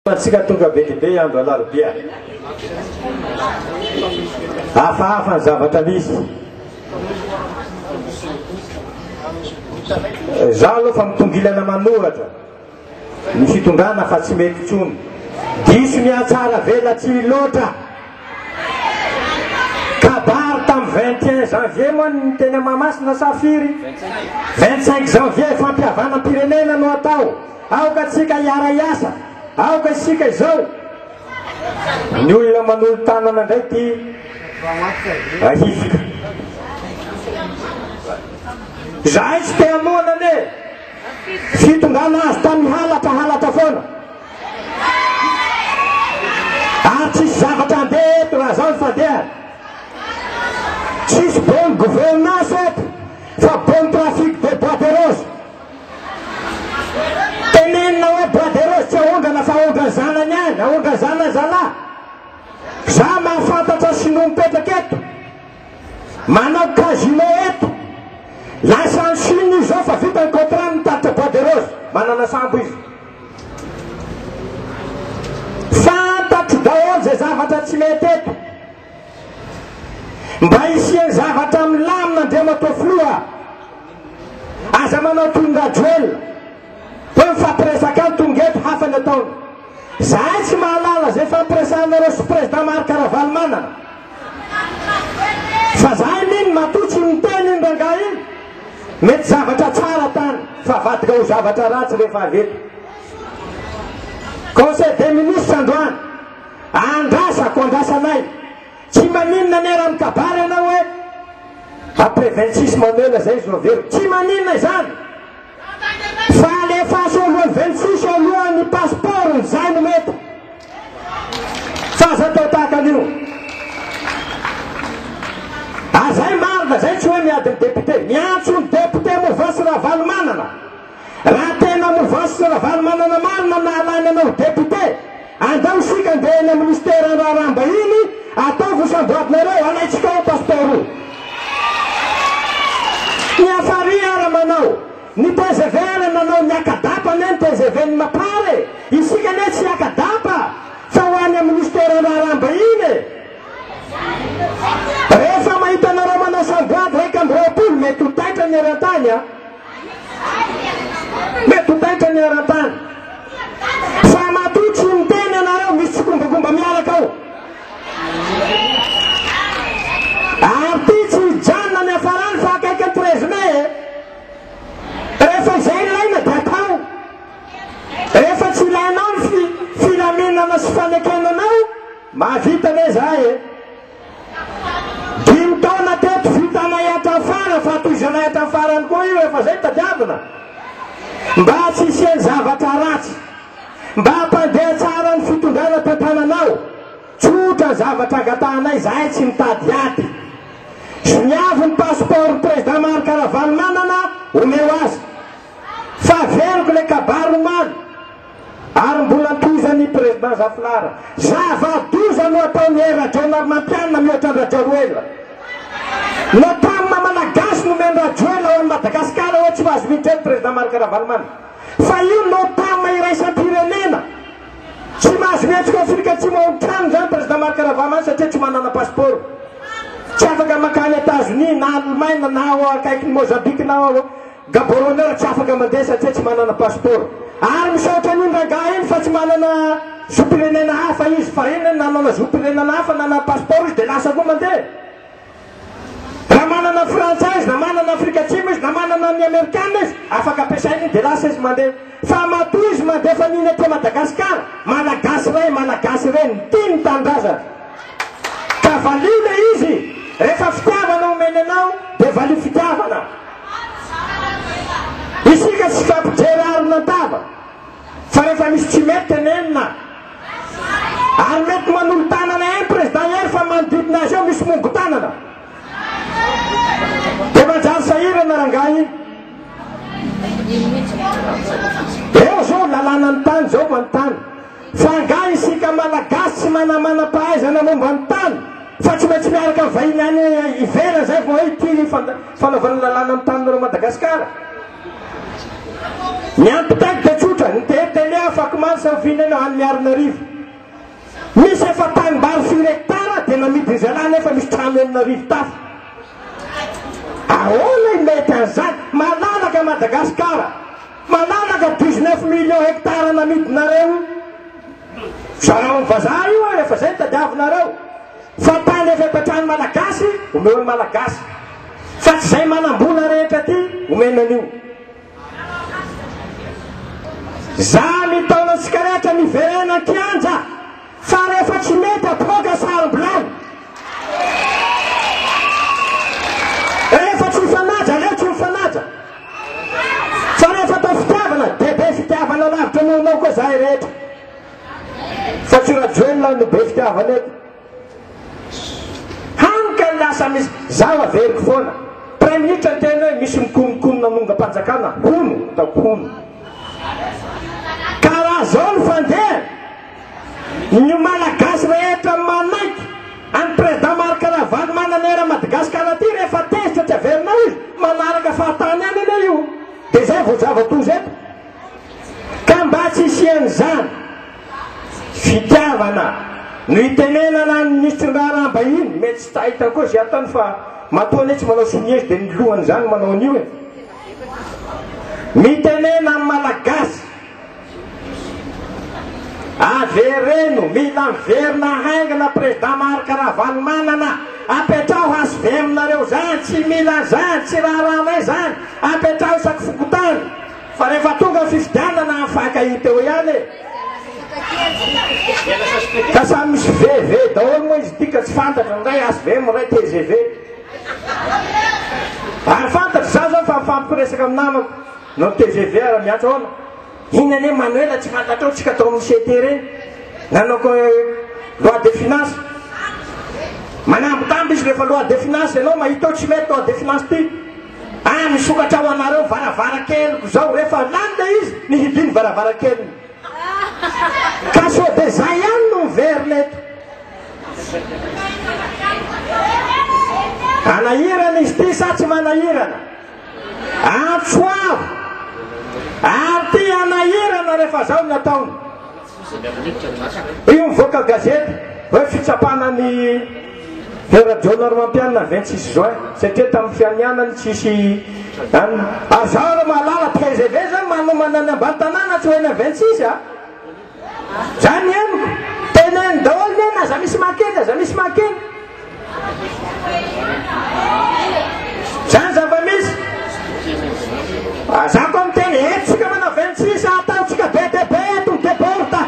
Antsika tonga be dia be andro alarobia. Hafahafa ny zavatra misy. Za aloha fa mitongilana manohatra ny fitondrana fa tsy mety tsony. Diso ny atsara vela tsy loatra. Kabary tamin'ny 21 janvier moa ny teny Mahamasina sa firy? 25 janvier fampihavanam-pirenena no atao. Aoka tsika hiara hiasa, aoka isika izao. Ny olona manolo tanana indray ty ahifika. Zahay tsy te hamoana ne. Fitongana azy tamy halatra halatra foana. Ary tsisy zavatra handeha eto raha zao ny fandehany. Tsisy bonne gouvernance eto fa bonne trafic de bois de rose. Tenenina hoe Braderos tsy aondrana fa aondra zanany ihany, aondra zana zalahy. Za mahafantatra sinoa mipetraka eto, manao casino eto, lasa any Chine izy zao fa vita ny contrat ny nitatitra Braderos, manana sambo izy. Fantatro daholo izay zavatra tsy mety eto. Mba hisian zavatra milamina Andriamatoa Filoha a! Aza manao toy ny Rajoel hoe mifampiresaka any tonga eto hafa ny ataony. Zahay tsy mahalala izay ifampiresahanareo sy Président Marc Ravalomanana. Fa zahay mino matoa tsy niteny iny rangahy iny mety zavatra tsara tany fa avadika ho zavatra ratsy rehefa avy eto. Conseil des ministres androany. Andrasako, andrasanay. Tsy maninona anie raha mikabary ianao hoe après 26 mamela zay izy no averiko. Tsy maninona izany. Fa alefaso alohan'ny 26 eo aloha ny passeport-ny, zay no mety. Fa aza atao tahaka an'io. Azay marina, zay tsy hoe miady ny député. Miantso ny député Mouvance Ravalomanana. Raha tena novas sy Ravalomanana marina nahalany anao ho député, andao isika ndeha eny amin'ny Minisiteran'ny Raharaham-bahiny, ataovy ho samboadinareo, alaintsika ao passeport io. Ny Afari ara manao, ny tgv ara nanao ny akadap anie ny tgv n'i Mapar e, isika anie tsy akadap fa ho any amin'ny Minisiteran'ny Raharaham-bahiny e. Rehefa mahita anareo manao samboady iraika amby roapolo mety ho taitra ny eran-tany a. Mety ho taitra ny eran-tany. Fa matoa tsy miteny ianareo, misy tsikombakomba miaraka ao. Ary ty tsy hijanona ny hafarany fa akaiky ny treize mai e. Rehefa izay ilaina dia atao. Rehefa tsy ilainao ny filaminana sy fanekenanao, mahavita ve za e. Dimy taona teto vitanay hatrafara fa tohizanay hatrafarany koa io efa zay tadiavina mba tsy hisian'ny zavatra ratsy mba hampandeha tsara ny fitondrana teto tananao tsotra zavatra angatahanay zahay tsy mitady ady zoniavo ny passeport président marc ravalomanana omeo azy fa veloko le kabary omaly Ary mbola antohizan' i President Zafilahara, Zava-doza no ataon' i Rajaonarimampianina mihoatra an-dRajaroela. No tany maha Malagasy no omen' Rajoelina ho an'i Madagasikara hoe tsy ho azy mihitsy eny President Marc Ravalomanana. Fa io no tam iraisam-pirenena. Tsy mahazo mihetsika ao Afrika Atsimo ao an-trano izany President Marc Ravalomanana satria tsy manana passeport. Tsy afaka mankany Etazonia na Alemaina na ao akaikin'i Mozambika na ao Gaborone tsy afaka mandeha satria tsy manana pasipaoro. Ary misaotra an'iny rangahy iny fa tsy manana zom-pirenena hafa izy. Fahiny nanana zom-pirenana hafa, nanana pasipaoro izy dia lasa koa mandeha. Raha manana frantsay izy, na manana Afrika Atsimo izy, na manana ny Amerikana izy, afaka ampiasaina iny dia lasa izy mandeha. Fa matoa izy mandeha fa ny iny aty Madagasikara, Malagasy ray, Malagasy reny, tia ny tanindrazany. Ka valio ilay izy, rehefa fitiavana omeny anao dia valio fitiavana. Isika tsy fampijery arina an-tava fa rehefa misy tsy mety tenenina. Ary mety manolo-tanana eny Président Hery fa manodidina azy eo misy mongo-tanana. Dia manjary sahirana rangahy. Eo izao lalànan'ny tany izao manontany. Fa angaha isika Malagasy tsy manana manam-pahaizana momba ny tany fa tsy maintsy miaraka amin'ny vahiny any ivelany izay vao hay tia ny fanaovana ny lalàna ny tanin'ireo Madagasikara? Ny antontaniko dia tsotra, ny DER Tele afakomaly sarofiana eny ao any Miarinarivo. Misy efa tanimbary firy hectares dia namidin'izay lahy nefa misy trano enina arivo tafo. Ahoana imety an'izany? Malalaka Madagasikara. Manaraka dix neuf millions hectares namidinareo zarao ny vazaha io ary efa zay ny tadiavinareo fa tany efa efa trano malagasy omeo ny malagasy fa tsy zay manambola rehetra ty omena an'io za mitaona antsika rehetra miverena an-kianja Fa rehefa tsy mety apoaka sarobilahy. Rehefa tsy mifanaja aleo tsy mifanaja. Fa rehefa atao fitiavana dia be fitiavana lavitra noho anao koa zahay rehetra. Fa tsy Rajoelina no be fitiavana eto. Hany ka lasa misy zaho averiko foana. Praiminisitra ny teny hoe misy mikonokonona amongam-panjakana hono ataoko hono. Ka raha zao ny fandehany. Ny Malagasy rehetra manaiky an'i Président Marc Ravalomanana eran'i Madagasikara ity rehefa tezitra tsy averina hoy manaraka fahatany any anie io dia izay vao zava-doza eto ka mba tsy hisian'izany fitiavana no itenenana ny Minisitry ny Raharaham-bahiny mety tsy tahita koa izay ataony fa matoa anie tsy manao sonia izy dia ny lohany izany manao an'io e mitenena amin'ny Malagasy Avereno, mila miverina haingana président Marc Ravalomanana, apetraho hvm nareo zany, tsy mila zany, tsy raharahanay zany, apetraho isaky fokontany, fa rehefa tonga ny fifidianana afaka hita eo ihany e. Ka samy misy VV daholo moa izy ity ka tsy fantatra, ny iray hvm, ny iray tgv. Ary fantatry za zao fa mifampiresaka amin'ny namako. Non tvv ara miantso aona iny anie manoela tsy fantatrao tsika tao amin'ny CT reny nanao ko loi de finance manambitamby izy rehefa loi de finance enao mahita eo tsy mety loi de finance ty ah misokatra ho anareo varavarankeliko zao rehefa lany le izy ny hidiny varavarankeliny ka sao de zay ihany no miverina eto anahirana izy ty sa tsy manahirana Antso avo! Ary te hanahirana rehefa zao ny ataony. Io mivoaka gazety hoe fitsapana ny Herajo Normampianina 26 juin satria tamin'ny fianianany tsisy any. Azao ro malala TGV zany manomana any ambany tanàna tsy ho eny 26 a. Zany amiko, teneno daholo ny hoe na za misy maha kely na za misy maha kely. Zany zava-misy. Ah, za koa miteny entsika manao 26 ataontsika be dia be eto ny deborda.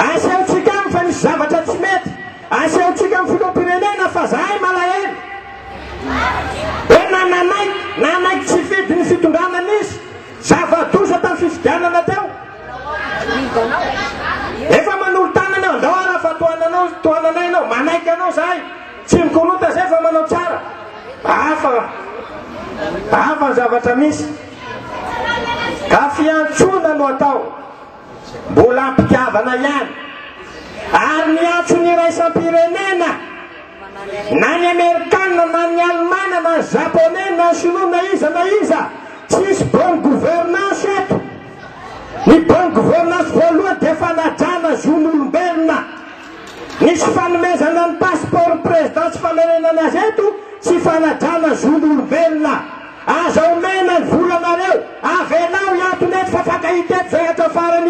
Asehontsika aminy fa misy zavatra tsy mety. Asehontsika amin'ny filoham-pirenena fa zahay malahelo. Hoe na nanaiky, nanaiky tsy fidy ny fitondrana nisy. Zava-doza tamin'ny fifidianana teo. Efa manolo tanana eo, andao ary afa tohananao, tohananay ianao, manaiky anao zahay, tsy mikorota zay fa manao tsara. Hafa, hafa ny zavatra misy. Ka fiantsoana no atao, mbola am-pitiavana ihany. Ary ny antso ny iraisam-pirenena. Na ny amerikana na ny alemana na japonais na sinoa na iza na iza tsisy bonne gouvernance eto ny bonne gouvernance voalohany dia fanajana zon'olombelona nisy fanomezana ny passeport président sy fananenana azy eto tsy fanajana zon'olombelona aza omena ny volanareo avelao hiatona eto fa fankahita eto zay hatrafarany